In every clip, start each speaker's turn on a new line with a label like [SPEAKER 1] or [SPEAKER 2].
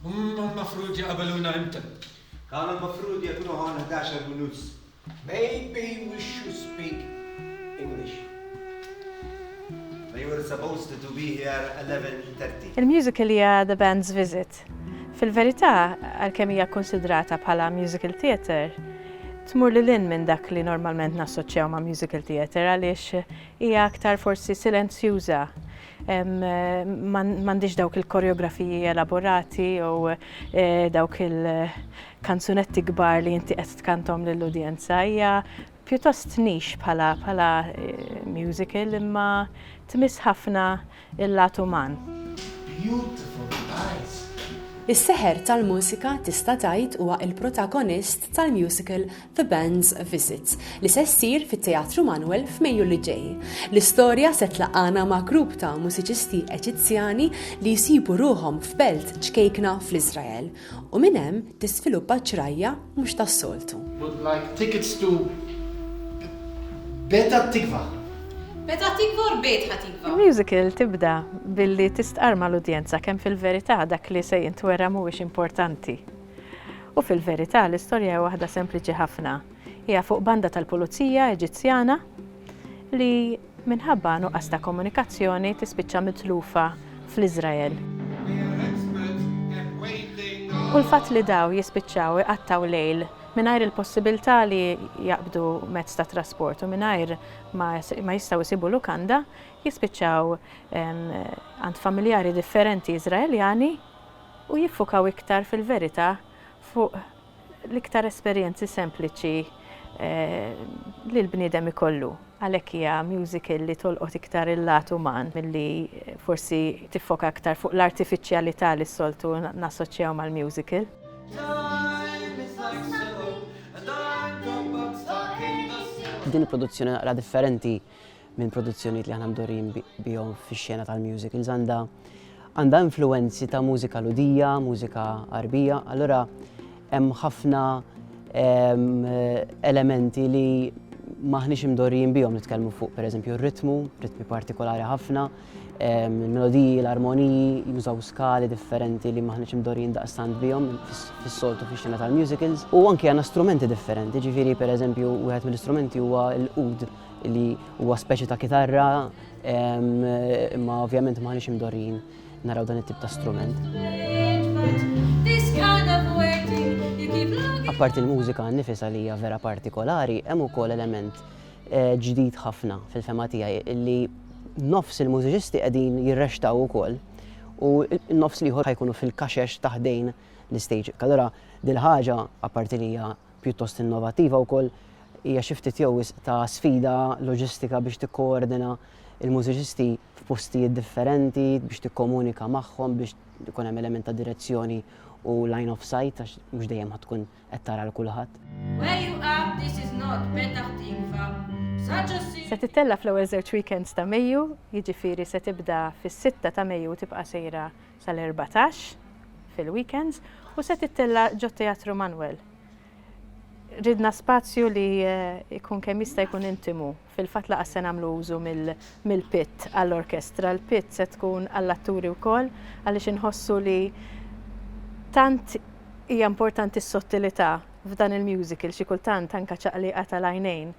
[SPEAKER 1] Humm mafrud jaqabeluna imta? Kanu mafrud jekunu hawn ħdax-el u nus. Maybe we should speak English. They were supposed to be here eleven thirty. Il-musical hija The Band's Visit. Fil-verità, għalkemm hija kkunsidrata bħala musical theatre, tmur lil hinn minn dak li normalment nassoċjaw ma' musical theatre għaliex hija aktar forsi silenzjuża M'għandix dawk il-koreografiji elaborati jew dawk il-kanzunetti kbar li inti qed tkanthom lill-udjenza. Hija pjuttost niche bħala musical imma tmiss ħafna l-lat uman. Is-seħer tal-mużika tista' tgħid huwa l-protagonist tal-musical The Band's Visit, li se ssir fit-Teatru Manuel f'Mejju li ġej. L-istorja se tlaqqagħna ma' grupp ta' mużiċisti Eġizzjani li jsibu ruħhom f'belt ċkejkna fl-Iżrael, u minn hemm tiżviluppa ġrajja mhux tas-soltu. would like tickets to Beta Tikva. Beta Tikva or Beit HaTikva? Il-musical tibda billi tistqarr mal-udjenza kemm fil-verità dak li se jintwera mhuwiex importanti. U fil-verità, l-istorja hija waħda sempliċi ħafna. Hija fuq banda tal-pulizija Eġizzjana li minħabba nuqqas ta' komunikazzjoni tispiċċa mitlufa fl-Iżrael. U l-fatt li daw jispiċċaw iqattgħu lejl mingħajr il-possibilità li jaqbdu mezz ta' trasport u mingħajr ma jistgħu jsibu lukanda jispiċċaw għand familjari differenti Iżraeljani u jiffokaw iktar fil-verità fuq l-iktar esperjenzi sempliċi li l-bniedem ikollu. Għalhekk hija musical li tolqot iktar il-lat uman milli forsi tiffoka iktar fuq l-artifiċjalità li s-soltu nassoċjaw mal-musical. Din il-produzzjoni naqra differenti minn produzzjonijiet li aħna mdorrijin bihom fix-xena tal-musicals għandha għandha influenzi ta' mużika ludija, mużika arbija, allura hemm ħafna elementi li maħniex imdorrijin bihom nitkellmu fuq pereżempju r-ritmu, ritmi partikolari ħafna, il-melodiji, l-armoniji, jużaw skali differenti li maħniex imdorrijin daqstant bihom fis-soltu fix-xena tal-musicals. U anke għandna strumenti differenti, ġifieri pereżempju wieħed mill-istrumenti huwa l-ud li huwa speċi ta' kitarra imma ovvjament maħniex imdorrin naraw dan it-tip ta' strument. Apparti l-mużika nifisa li hija vera partikolari, hemm ukoll element eh, ġdid ħafna fil-fema tiegħi li nofs il-mużiċisti qegħdin jirrextaw ukoll u nofs liħor ħajkunu fil-kaxex taħdejn l-istage. Allora dil-ħaġa apparti li hija pjuttost innovattiva wkoll, hija xi ftit jew wisq ta' sfida loġistika biex tikkoordina l-mużiċisti f'postijiet differenti, biex tikkomunika magħhom, biex ikun hemm element ta' direzzjoni u line of sight għax mhux dejjem ħadd tkun qed tara l kulħadd. Se tittella' fl-ewwel żewġ weekends ta' Mejju, jiġifieri se tibda fis-sitta ta' Mejju u tibqa' sejra sal-erbatax fil-weekends u se tittella' ġot-Teatru Manwel. Ridna spazju li jkun kemm jista' jkun intimu. Fil-fatt laqas se nagħmlu użu mill-pit għall-orkestra. Il-pit se tkun għall-atturi wkoll għaliex inħossu li tant hija importanti s-sottilità f'dan il-musical, xi kultant anke ċaqliqa tal-għajnejn,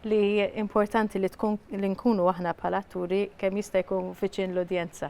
[SPEAKER 1] li importanti li tkun li nkunu aħna bħala atturi kemm jista' jkun viċin l-udjenza.